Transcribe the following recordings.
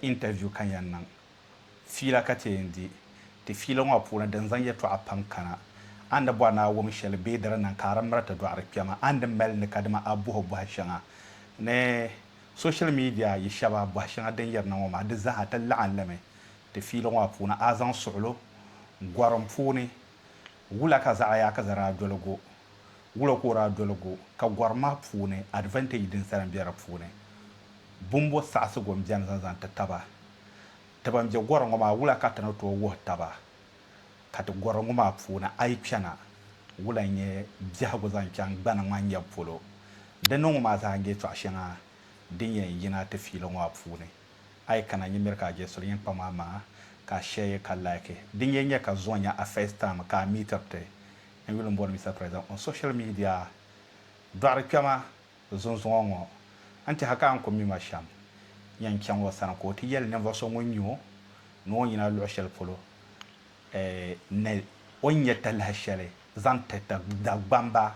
Interview ka n yɛn niŋ fiila ka ti yɛn di ti fiila ŋɔ puuni din zaŋ yɛltɔɣa pam kana. A ni di bɔri ni a wum shɛli bee di di niŋ ka a di miri ti dɔɣiri kpɛma, a ni di mali ni kadama a bɔhi bɔhi shɛŋa ni social media yi shɛba bɔhi shɛŋa din yirina ŋɔ maa di zaa ti laɣim limi ti fiila ŋɔ puuni. A zaŋ suɣilo gɔrim puuni Wula ka zaɣayaɣiza daa doli go? Wula ka o daa doli go? Ka gɔri maa puuni advantage din sa m-be di puuni. Bumbo saɣisigu m-beni zaŋ zaŋ ti taba. Ti ban be gɔri ŋɔ maa wula ka ti ni tooi wuhi taba ka ti gɔri ŋɔ maa puuni a yi kpɛna wula n-nyɛ biɛhigu zaŋ chaŋ gbani ŋman nyɛbu polo? Di niŋ ŋɔ maa zaa n-nyɛ tɔɣ'shɛŋa din yɛn yina ti fiili ŋɔ maa puuni. A yi kana n yi miri ka a je suli yin kpa maa maa ka a share yi ka like di n yi nya ka zuɣu nya a first time ka a meetir ti n yuli n boli Mister President on social media dɔɣiri kpɛma zunzuŋɔ ŋɔ n tɛha ka a ni ku mi ma shɛm nya n chaŋ o sani ka o ti yɛli ninvuɣ so ŋun nya o ni o yina luɣ shɛli polo ni o ni nya talahi shɛli zaŋ ti ti Dagbamba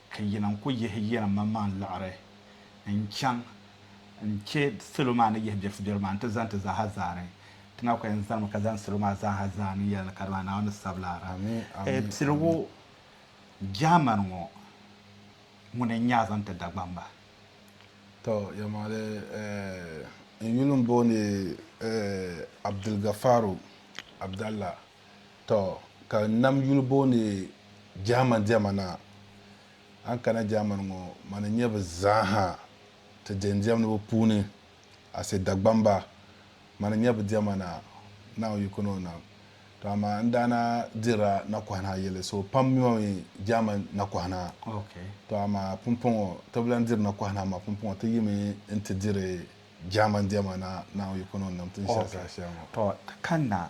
Ka yi lan ku yihi yinim manmaŋ liɣiri n-chaŋ n-chɛ salo maa ni yihi biɛrisibiɛri maa nti zani ti zaaha zaani. Ti Naa ku yɛn zanimi ka zani salo maa zaaha zaani n-yɛli ni kadama Naawuni ni sabila. Amiina! Piligu Jaamani ŋɔ ŋuni n-nya zaŋ ti Dagbaŋ ba? Tɔ, yɛlimaŋli, n yuli m-booni Abdulgafaru Abdalla. Tɔ! Ka nam yuli booni Jahama diɛma na. A ni kana Jahaman ŋɔ, ma ni nya bɛ zaaha ti diɛm diɛmdiba puuni, Ase Dagbamba. Ma ni nya bɛ diɛma na, Naawuni yiko ni o nam. Tɔ amaa n daa na dirila nakɔhina yili, so pam mi ma mi Jahaman nakɔhina. Tɔ amaa pumpɔŋɔ ti bi lan diri nakɔhina, amaa pumpɔŋɔ ti yimi nti diri Jahaman diɛma na, Naawuni yiko ni o nam, ti ni shɛri zaashɛli ŋɔ. Tɔ! Ti kanna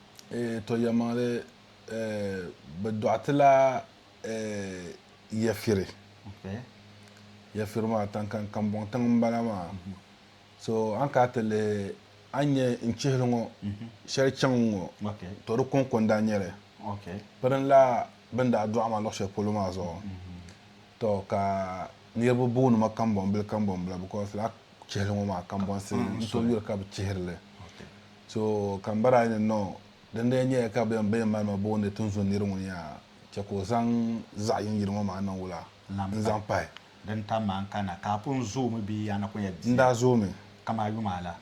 Eeh to yɛlimaŋli eeh bɛ dɔɣitila eeh yafiri yafiri maa taŋkan kambɔŋ tiŋ m bala maa so a ni kana ti lihi a ni nya n chihili ŋɔ shɛli chaŋ ŋɔ to di kɔŋko n daa nyɛli pirinla bɛ ni daa dɔɣi ma luɣ shɛli polo maa zuɣu to ka niriba booni ma kambɔnbili kambɔnbila because lala chihili ŋɔ maa kambɔnsi n tooi yuli ka bɛ chihiri li So kam bara ayi ni no, din lee nyɛya ka bɛn bɛn mali ma booni tinzun niri ŋun ya chɛ ka o zaŋ zaɣ yini yili ŋɔ maa niŋ wula n-zaŋ pahi? Din tam ma n-kana ka a pun zoomi bee yaa na ku nyɛ bia? N daa zoomi. Kam a yuma la?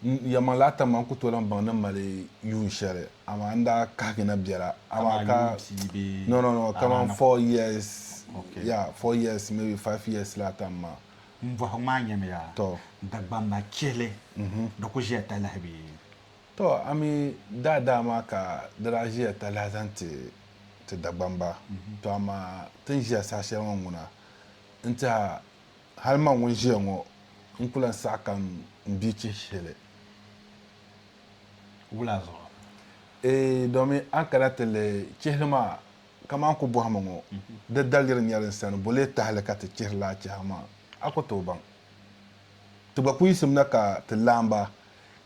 N yɛlimaŋli daa tam ma n ku tooi lan baŋ ni m mali yuun shɛli, amaa n daa kahigi na biɛla. Kam a yuun pia bee? No, no, no, kaman four years, ya, four years, maybe five years laatam maa. M bɔhi ŋmaa nyamiya Dagbamba chihili di ku ʒiya talahi bee? Tɔ! A mi daa daa maa ka di daa ʒiya talahi zaŋ ti ti Dagbamba. Tɔ amaa ti ni ʒiya saha shɛli ŋɔ ŋuna n-tiha hali man ŋun ʒiya ŋɔ n ku lan saɣi ka m bia chihi shihili. Wula zuɣu? Eei domi a ni kana ti lihi chihili maa Kaman ku bɔhimi ŋɔ, di daliri nyɛli n sani bo lee tahili ka ti chihiri laa chɛhigu maa? A ku tooi baŋ. Ti gba ku yiɣisimina ka ti laam ba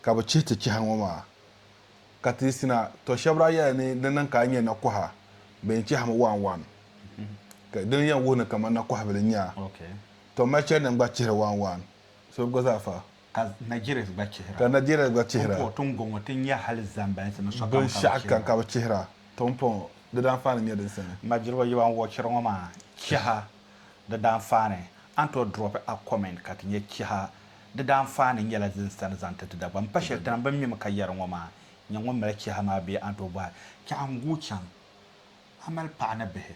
ka bɛ chihi ti chɛhigu ŋɔ maa. Ka ti yiɣisina, tɔ shɛb daa yɛli ni di niŋ ka a nya nakɔha bɛn chɛhimi waan waan. Ka dini yɛn wuhi ni kaman nakɔhibili n-nya a. Tɔ mali chɛli ni n gba chihiri waan waan, so bi gba zaa fa. Ka Nigerians gba chihira. Ka Nigerians gba chihira. Tompoɔ tingɔŋɔ ti nya hali zambansi ni sokam ka bi chihira. Binshɛɣu kam ka bi chihira. Tompoɔ, di daanfaani n-nyɛ din sani. N ma Jiriba yi ban wɔchiri ŋɔ maa chiha di daanfaani, a ni tooi drop a comment ka ti nya chiha di daanfaani n-nyɛla din sani zaŋ ti ti Dagbaŋ. M pa shɛli tinim bɛn mimi ka yɛri ŋɔ maa, nyɛ ŋun mali chiha maa bee a ni tooi bɔhi, Chiha n-guui chaŋ, a mali paɣa ni bihi?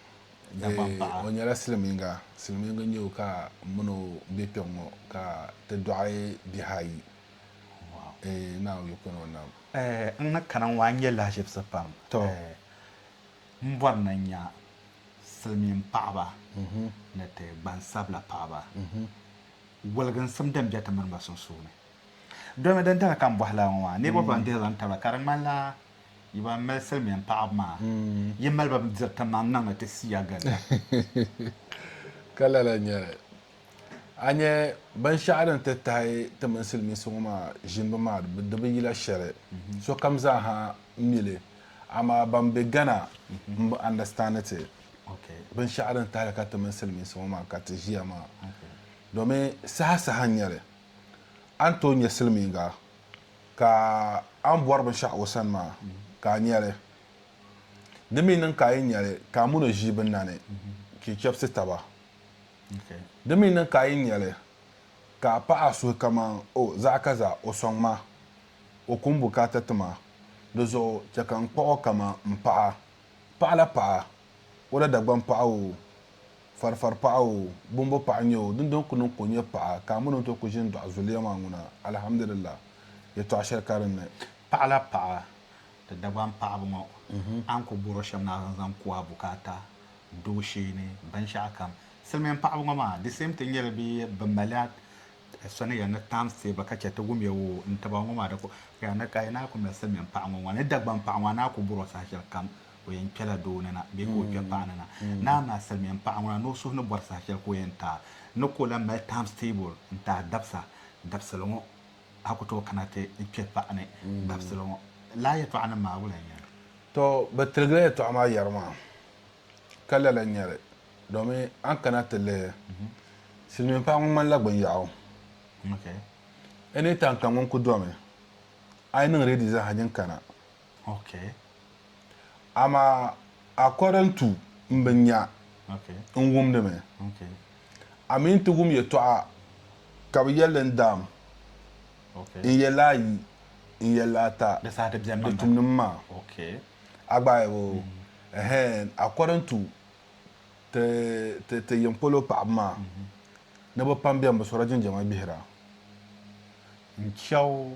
Dagbaŋpaɣa. O nyɛla silimiiŋa. Silimiiŋa n-nyɛ o ka m mini o be kpɛŋŋɔ ka ti dɔɣi bihi ayi. Eeh Naa Yu Kpɛno Nam. Eeh n ni kana ŋɔ a ni nyɛ lahiʒibisi pam. Eeh m bɔri ni n nya silimiinpaɣiba ni ti gbansabila paɣiba woliginsim din be ti mini ba sunsuuni. Domi dindali ka m bɔhi lala ŋɔ maa, niriba ban dihila n-tabila ka di ŋmanila. Yi ban mali silimiin paɣaba maa, yi mali ba diri ti maŋ niŋ ni ti siya gari ya. Ka lala nyɛli. A nya binshɛɣu din ti tahi ti mini silimiinsi ŋɔ maa ʒinibu maa di bi yila shɛli. Sokam zaa ha mi li amaa ban be Ghana m-bi understand ti binshɛɣu din tahi ka ti mini silimiinsi ŋɔ maa ka ti ʒiya maa domin saha saha n-nyɛ li. a ni tooi nya silimiiŋga ka a ni bɔri binshɛɣu o sani maa, ka a nya li. Di mi niŋ ka a yi nya li, ka a min o ʒii bi nani, ka yi chɛbisi taba. Di mi niŋ ka a yi nya li, ka a paɣi a suhu kaman, O, zaɣ kaza, o sɔŋ ma, o ku m-bukaata ti ma, di zuɣu chɛ ka n kpuɣ o kaman m paɣa paɣila paɣa o la Dagbaŋ paɣa oo. Farifari paɣa oo, bɔmbɔ paɣa n-nyɛ oo, dindɔŋ n-ku niŋ ka o nyɛ paɣa, ka a mini o ni tooi ku ʒini dɔɣi zuliya maa ŋuna, Alhamdulillah, yɛtɔɣ shɛli ka dinni. Paɣa la paɣa, ti Dagbaŋ paɣiba ŋɔ, a ni ku bɔr o shɛm naai zaŋ ku a bukaata, doo sheeni, binshɛɣu kam. Silimiin paɣiba ŋɔ maa, di same thing n-nyɛ li bee bɛ malila sani ya ni times ti ba ka chɛ ti wum ya oo, n-taba ŋɔ maa di ku, ka ya ni ka yi naai ku mali silimiin paɣa ŋɔ ŋɔ ni Dagbaŋ paɣa ŋɔ a naai ku bɔr o saha shɛli kam. o yɛn kpɛla doo ni na bee ka o kpɛ paɣa ni na. Naa maa salimiya m-paɣa ŋuna ni o suhu ni bɔri saha shɛli ka o yɛn taai ni ka o lahi mali times table n-taai dabisa dabisili ŋɔ a ku tooi kana ti n kpɛ paɣa ni dabisili ŋɔ. Lala yɛtɔɣanim maa wula n-nyɛ li? Tɔ, bɛ tiligila yɛtɔɣa maa yɛri maa ka lala n-nyɛ li domi a ni kana ti lihi silimiin paɣa ŋɔ ŋmanila gbinyɛɣu. Any time ka ŋun ku domi a yi niŋ ready zaaha nyin kana Okay. Amaa according to m bin nya Okay. n wumdi mi Okay. a mi nti wum yɛtɔɣa ka bi yɛli n daam Okay. n yɛli ayi n yɛli ata Di saha di bɛn mi di tumdi mi maa Okay. a gba ayi o ɛhɛn according to ti ti ti yiŋ polo paɣaba maa ni bi pam bɛn bi sɔra jinjama gbihira n chɛw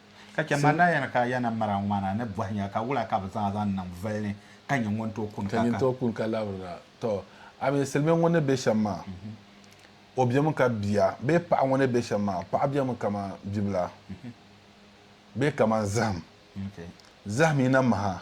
Ka chɛ ma daa yɛn ka ya na mara ŋmana ni bɔhinya, ka wula ka bɛ zaŋ a zaŋ niŋ voli ni, ka nyin ŋun tooi kun ka Ka nyin tooi kun ka labirina? Tɔ! A mi silimiŋ ŋun ni be shɛm maa, o bemi ka bia, bee paɣa ŋun ni be shɛm maa, paɣa bemi kaman bibila, bee kaman zahim. Zahim yi na maha,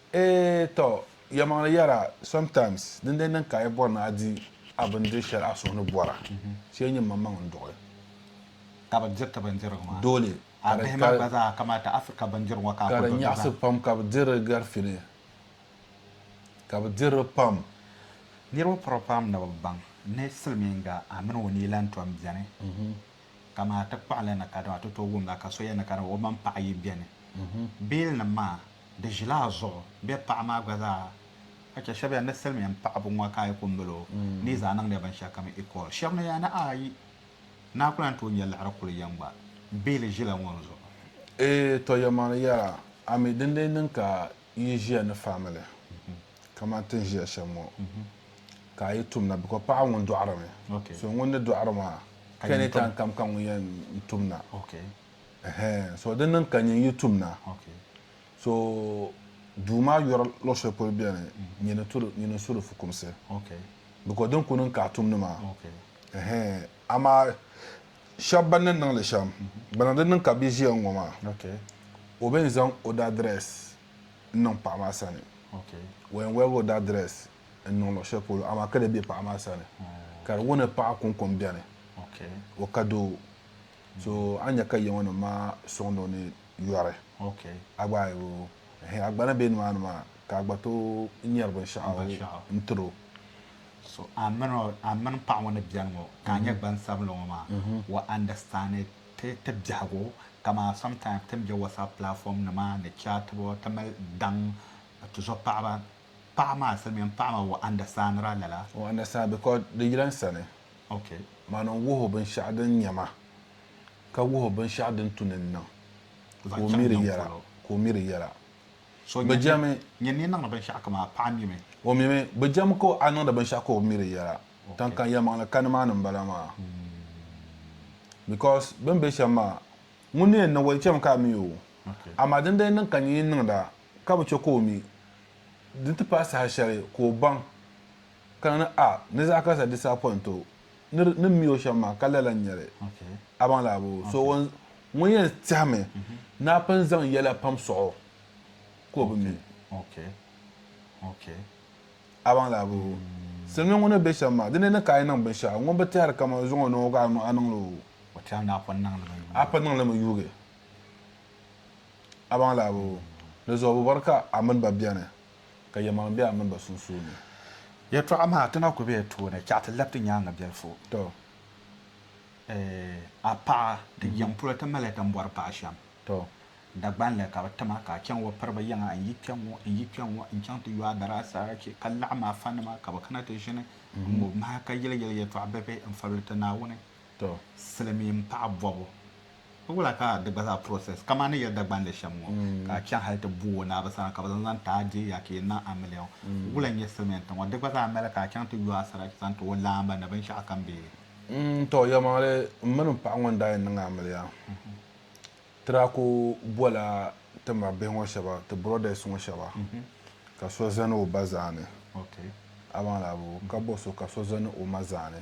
Eee tɔ! Yɛlimaŋli yɛra, sometimes din daa niŋ ka a yi bɔri ni a di a bindiri shɛli a suhu ni bɔra, ti yɛn nyɛ maŋmaŋ n-duɣi. Ka bɛ diri ti bindirigu maa. Dole. A bihi maa gba zaa kamata Africa bindirigu ŋɔ ka a kuli dɔnda zaa. Ka di nyaɣisi pam ka bɛ diri di garifini, ka bɛ diri di pam. Niriba pɔra pam ni bɛ baŋ ni silimiiŋga a mini o ni yi lan tom beni. ka maa ti kpaɣi li ni ka di maa ti tooi wum la ka so yɛn ni ka di maa o mini paɣa yi bɛni beelinim maa di ʒila a zuɣu bɛ paɣa maa gba zaa ka chɛ shɛb yɛn ni silimiin paɣibu ŋɔ ka yi kuli mali o ni yi zaa niŋdi binshɛlikam equal shɛb ni yɛn ni ayi naa kuli lan tooi nyɛ liɣiri kuli yɛn gba beeli ʒila ŋɔ zuɣu. Eeh tɔ Yɛmani yɛra ami dindee niŋ ka yi ʒiya ni family kamani ti ni ʒiya shɛm ŋɔ ka a yi tumda because paɣa ŋun dɔɣirimi so ŋun ni dɔɣiri maa any time kam ka ŋun yɛn tumda ɛhɛn so di niŋ ka nyin yi tumda so duu maa yɔri luɣ shɛli polo beni nyin n su di fukumsi because din ku niŋ ka a tumdi maa ɛhɛn amaa shɛba ban ni niŋ li shɛm, gbana di niŋ ka bɛ ʒiya ŋ-ŋɔ maa, o bɛn zaŋ o daadrɛs n-niŋ paɣa maa sani, o yɛn waligi o daadrɛs n-niŋ luɣ shɛli polo amaa ka di be paɣa maa sani, ka di wuni paɣa kɔŋkɔŋ beni, o ka doo. So a ni nya ka yiŋɔnim maa sɔŋdi o ni yɔri, a gba ayibu ɛhɛn a gba ni be nimaani maa ka a gba tooi nyari binshɛɣu n-tir o. So a mini o, a mini paɣa ŋɔ ni beni ŋɔ ka a nyɛ gbansabinli ŋɔ maa, o understand ti ti biɛhigu kaman sometimes ti ni be WhatsApp platform nima ni chaatibu ti mali daŋ tuzo paɣaba, paɣa maa silimiin paɣa maa o understand la lala? O understand because di yila n sani, Okay. mani n wuhi o binshɛɣu din nya ma ka wuhi o binshɛɣu din tu ni n niŋ ka o mi di yɛla ka o mi di yɛla. So Bɛ jɛmi. Nyini ni niŋdi binshɛɣu kam a paɣa mimi. O mimi. Bɛ jɛmi ka a niŋdi binshɛɣu ka o mi di yɛla. Tiŋkani yɛlimaŋli ka nimaani m-bala maa because bɛ ni be shɛm maa ŋun ni yɛn niŋ o di chɛmi ka a mi o amaa din daa niŋ ka nyin yi niŋda ka bi chɛ ka o mi di ni ti paai saha shɛli ka o baŋ ka niŋdi a ni zaɣ karisa disappoint o ni ni mi o shɛm maa ka lala n-nyɛ li a baŋ laa boo so ŋun ŋun yɛn tɛhimi ni a pun zaŋ yɛla pam sɔɣ o ka o bi mi a baŋ laa boo silimiin ŋun ni be shɛm maa di ni ni ka a yi niŋ binshɛɣu ŋun bi tɛhiri kaman o zaŋ o niŋ o ka a niŋ li o o tɛhiri ni a pun niŋ li mi a pun niŋ li mi yuugi a baŋ laa boo di zuɣu bi bɔri ka a mini ba beni. ka yɛlimaŋli be a mini ba sunsuuni. Yɛtɔɣa maa, ti na ku be a tooni, chɛɣu ti lab ti nyaaŋa biɛlifu. Tɔ! A paɣa, ti yiŋ polo ti mali tambɔri paɣ shɛm. Tɔ! Dagbaŋ la ka bɛ ti ma, ka a chaŋ wa piri bɛ yiŋa. N yi kpe ŋ-ŋɔ, n yi kpe ŋ-ŋɔ, n-chaŋ ti yo a daraa sarati, ka laɣim a fanima, ka bɛ kana ti ʒini n-ŋub m-maha, ka yɛli yɛl yɛtɔɣ bibihi n-fabili ti Naawuni. To silimiin paɣa bɔbu ka wula ka di gba zaa process kaman ni ya Dagbandi shɛm ŋɔ ka a chaŋ hali ti booi Naaba sani ka bɛ zaŋ zaŋ ti a deei a ka yi niŋ a miliɔn wula n-nyɛ silimiin tiŋ ŋɔ di gba zaa mali ka a chaŋ ti yo a sarati zaŋ ti o laamba ni binshɛɣu kam bee? To yɛlimaŋli m mini m paɣa ŋɔ ni daa yɛn niŋ a miliɔn ti daa ku bɔla ti ma bihi ŋɔ shɛba ti brothers ŋɔ shɛba ka so zani o ba zaani a baŋ laa bɔ ka bɔ so ka so zani o ma zaani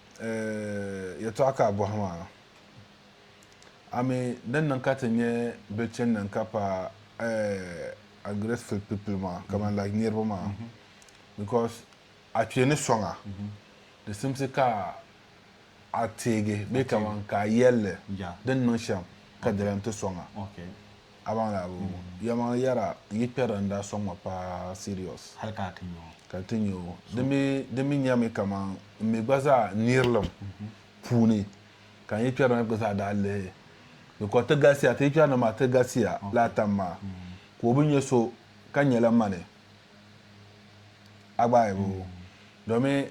Yɛtɔɣa ka a bɔhi maa? A mi din niŋ ka ti nyɛ bɛ chani ni n-ka pa ungrateful people maa kamani like niriba maa because a kpe ni sɔŋ a di simsi ka a teegi bee kamani ka a yɛlli din niŋ shɛm ka di lan ti sɔŋ a. Abaŋli Abu, yɛlimaŋli yɛra n yi kpɛri n daa sɔŋ ma paa serious. Hali ka a ti nya o. Ka n ti nya o. Di mi di mi nyami kaman m mi gba zaa n nirilim puuni ka n yi kpɛri na gba zaa daa lihi because ti galisiya ti yi kpɛri na maa ti galisiya lala tam maa ka o bi nya so ka nyɛla mani Agbaayabu domin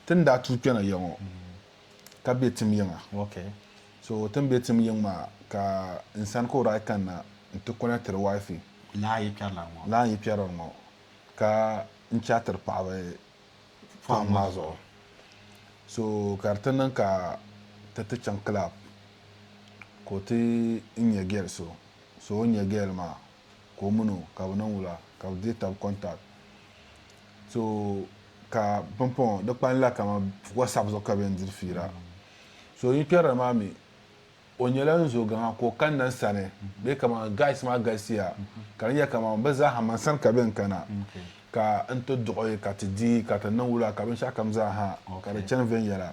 ti ni daa tuui kpɛna ya ŋɔ ka be tim yiŋa. Okay. So o tin be tim yiŋ maa ka n sani ka o daa kanna n ti kɔnɛktiri wifi. Laa n yi kpɛri la ŋɔ. Laa n yi kpɛri li ŋɔ ka n chaatiri paɣaba pɔhim maa zuɣu. So ka di ti niŋ ka ti ti chaŋ club ka o ti n nya girl so. So o ni nya girl maa. ka o mini o ka bɛ niŋ wula ka bɛ di tab contact so ka pumpɔŋɔ di kpanila kama whatsapp zuɣu ka bɛ yɛn diri fiira so yi kpɛrili maa mi o nyɛla n zo gaŋa ka o kanna n sani bee kama guys maa galisiya ka di nyɛla kama bɛ zaaha man sani ka bɛ yɛn kana ka n ti duɣi ka ti di ka ti niŋ wula ka binshɛɣu kam zaaha ka di chani viɛnyɛla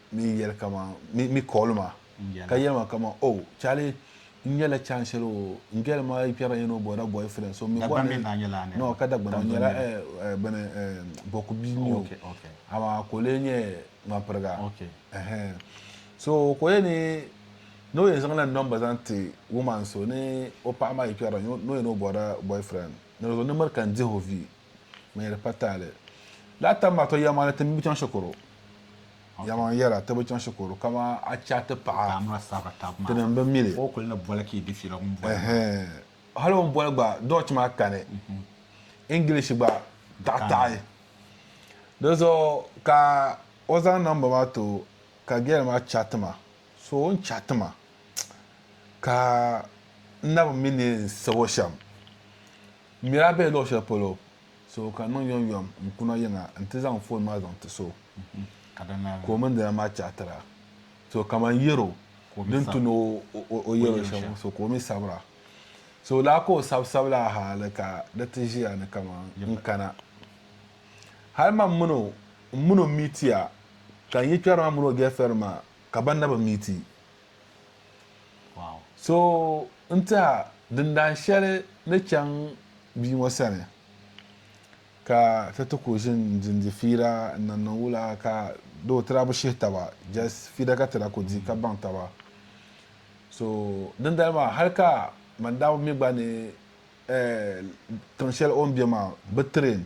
mi yɛli kaman, mi, mi call ma ka yɛli ma kaman, Oh, Charlie, n nyɛla chance shɛli o n girl maa yi kpɛrila yin o bɔda boyfriend, so mi bɔri ni, no, ka Dagbani maa nyɛla, eh, eh, bini, eh, Boku bia n-nyɛ o, amaa ka o lee nyɛ ŋmanpiriga, ɛhɛn. So ka o yɛli ni, ni o yɛn zaŋla number zaŋ ti woman so ni o paɣa maa yi kpɛrila yin o, ni o yɛn o bɔda boyfriend, ni di zuɣu ni miri ka n dihi o vi, ŋmɛri patali. Lala tam maa to yɛma ni ti mi bi chaŋ shikuru. Yɛma n yɛra ti bi chaŋ shikuru kama a chɛ a ti paɣa di ni n bi mi li. Hali o ni boli gba Dutch maa kani English gba taɣi taɣi. Di zuɣu ka o zaŋ namba maa ti o ka girl maa chat ma so o ni chat ma ka n na bi mi ni n sabo shɛm. M mi daa be luɣ shɛli polo, so ka niŋ yomyom n-kuna yiŋa nti zaŋ foon maa zaŋ ti so ka o mini di lan maa chaatira. So kaman yɛr o din tu ni o yɛr o shɛm so ka o mi sabira. So lala ka o sabisabila hali ka di ti ʒiya ni kaman n kana. Hal mam min o m-min o m-mi ti ya, ka n yi kpɛri ma min o gɛɛfirɛn maa ka banna bi mi ti. So n-tiha dindaan shɛli ni chaŋ bia ŋɔ sani, ka ti ti ku ʒin dindi fiira n-niŋ niŋ wula ka di o tira bi shihi taba, just fiira ka tira ku di ka baŋ taba. So dindali maa hali ka Mandawi mi gba ni tiŋ shɛli o ni be maa bi train.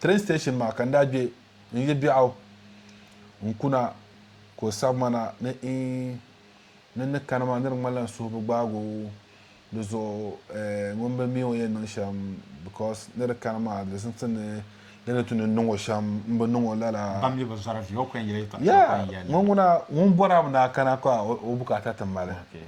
Train station maa ka n daa gbe n yi biɛɣu n kuna ka o sabi ma na ni iin ni n ni kani maa ni di ŋmanila n suhu bi gbaag o di zuɣu eh, ŋun bi mi o yɛn niŋ shɛm because ni di kani maa di zimsi ni di ni tu ni n niŋ o shɛm m bi niŋ o lala. Ban mi bi zɔra vi o kuli n yɛli yɛltɔɣa Yeah, kuli n yɛli. ŋun ŋuna ŋun bɔri a mi ni a kana ka o o bukaata ti mali. Okay.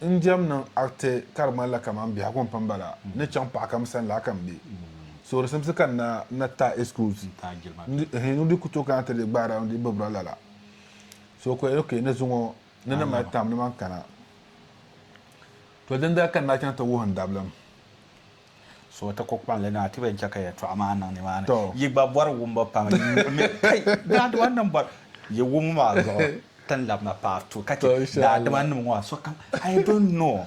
n diɛm niŋ ariti ka di ŋmanila kamani biɛhigu m-pini ba la ni chaŋ paɣ kam sani la ka m be. Soorisimsi ka n na na taai excuse n-di n-di ku tooi kana ti di gbaara n-di bibira lala. So ko ok ni zuŋɔ ni ni mali taam ni man kana. To dindali ka n daa chaŋ ti wuhi n dabilim. So ti ku kpaŋli ni a ti be n-chɛ ka yɛtɔɣa maa niŋ nimaani. Yi gba bɔri wumbu pam n-nyuri mi. Kai! Daadima nim bɔri yi wumbu maa zuɣu tin labi na part two ka chɛ daadima nim ŋɔ sokam I don't know.